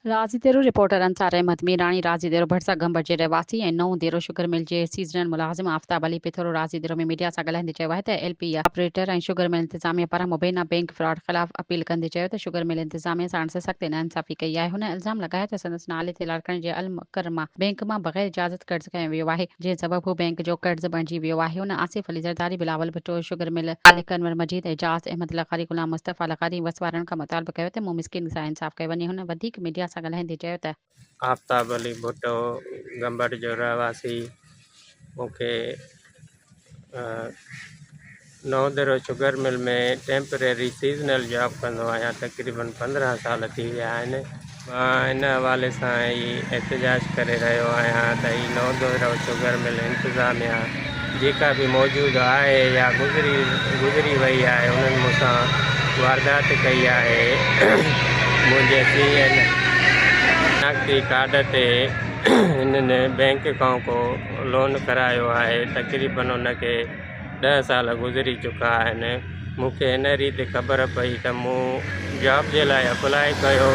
راضي ديرو، رپورٽر انصار احمد ميراڻي، راضي ديرو ڀٽ سان گهمبر جي رهواسي ۽ نئون ديرو شگر مل جي سيزنل ملازم آفتاب علي پٿورو راضي ديرو ۾ ميڊيا سان ڳالهائيندي چيو آهي ته L P A operator ۽ sugar mill انتظاميه پاران مبينا بئنڪ فراڊ خلاف اپيل ڪندي چيو ته شگر مل انتظاميه ساڻس سخت ناانصافي ڪئي آهي هن الزام لڳايو ته سندس نالي تي لاڙڪاڻي جي المڪرمه بئنڪ مان بغير اجازت قرض کنيو ويو آهي. جنهن سبب هو بئنڪ جو قرض بڻجي ويو آهي هن آصف علي زرداري بلاول ڀٽو شگر مل خالق انور مجيد اعجاز احمد لغاري غلام مصطفيٰ لغاري ۽ وس وارن کان مطالبو ڪيو ته مون مسڪين سان انصاف ڪيو وڃي هن وڌيڪ ميڊيا سان ڳالهائيندي چيو ته. آفتاب علي ڀٽو گمبٽ جو رهواسي مون کي Naudero sugar mill ۾ temporary seasonal job ڪندو آهيان تقريبن پندرهن سال ٿي ويا آهن مان ان حوالي سان ئي احتجاج ڪري رهيو آهيان ته هي نوندرو شگر مل انتظاميا جيڪا به موجود آهي يا گذري گذري وئي آهي انهن مون سان واردات ڪئي آهي منهنجي سي اين شناختي ڪارڊ تي هنن بينڪ کان ڪو لون ڪرايو آهي تقريبن ان کي ڏهه سال گذري چڪا آهن، مون کي ان ريت خبر پئي ته مون جاب جي لاء اپلاء ڪيو،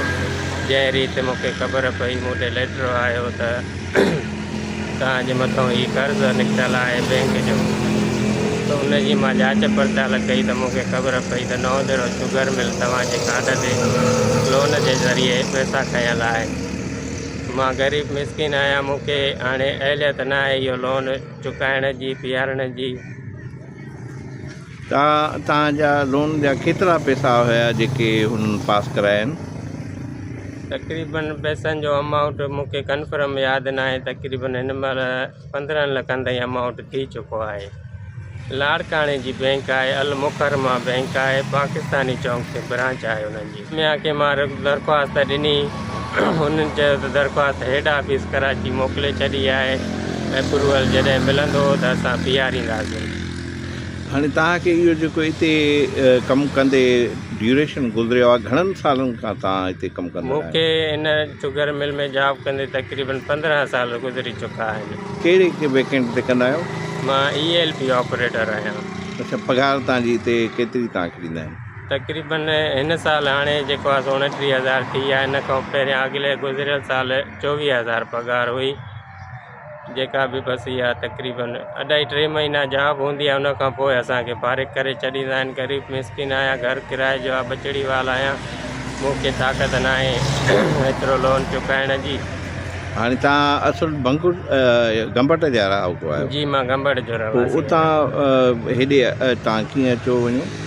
جنهن ريت مون کي خبر پئي مون ڏي ليٽر آيو ته توهان جي مٿان هي قرض نڪتل آهي بينڪ جو ته ان جي مان جاچ پڙتال ڪئي ته مون کي خبر پئي ته نو ديرو شگر مل توهان جي ڪارڊ تي لون جي ذريعي پئسا کنيل آهن، مان غريب مسڪين آهيان مون کي هاڻي اهليت ناهي اهو لون چڪائڻ جي پيارڻ جي. ته تان جا لون جا ڪيترا پيسا هيا جيڪي هن پاس ڪرايا آهن. تقريبن پيسن جو امائونٽ مون کي ڪنفرم ياد ناهي تقريبن هن مهل پندرهن لکن تائين امائونٽ ٿي چڪو آهي لاڙڪاڻي جي بينڪ آهي المڪرمه بينڪ آهي پاڪستاني چونڪ تي برانچ آهي انهن جي. ميان کي مان درخواست ڏني، هن چيو ته درخواست هيڊ آفيس ڪراچي موڪلي ڇڏي آهي، ايپروول جڏهن ملندو ته اسان بيهارينداسين. هاڻي توهان کي اهو جيڪو اتي ڪم ڪندي ڊيوريشن گذريو آهي گهڻن سالن کان توهان اتي ڪم ڪندا آهيو؟ مون کي هن شگر مل ۾ جاب ڪندي تقريبن پندرهن سال گذري چڪا آهن. ڪهڙي ويڪنٽ تي ڪندا آهيو؟ مان اي ايل پي آپريٽر آهيان. اڇا پگهار توهان جي اتي ڪيتري توهان کي ڏيندا آهن؟ تقريبن هن سال هاڻي جيڪو آهي سو اڻٽيهه هزار ٿي آهي ان کان پهريان اڳلي گذريل سال چوويهه هزار پگهار هئي جيڪا به بس اها تقريبن اڍائي ٽي مهينا جاب هوندي آهي ان کان پوء اسانکي فارغ ڪري ڇڏيندا آهن غريب مسڪين آهيان گهر ڪرايي جو آهي ٻچڙي وال آهيان مون کي طاقت نه آهي ايترو لون چڪائڻ جي هاڻي توهان اصل بنگور گمبٽ جا رهاڪو آهيو جي مان گمبٽ جو رهواسي اتان هيڏي توهان ڪيئن اچو وڃو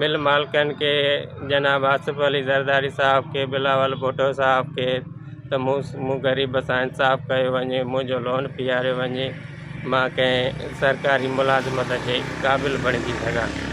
مل مالڪن کي جناب آصف علي زرداري صاحب کي بلاول ڀٽو صاحب کي ته مون مون غريب سان انصاف ڪيو وڃي منهنجو لون پياريو وڃي مان ڪنهن سرڪاري ملازمت جي قابل بڻجي سگهان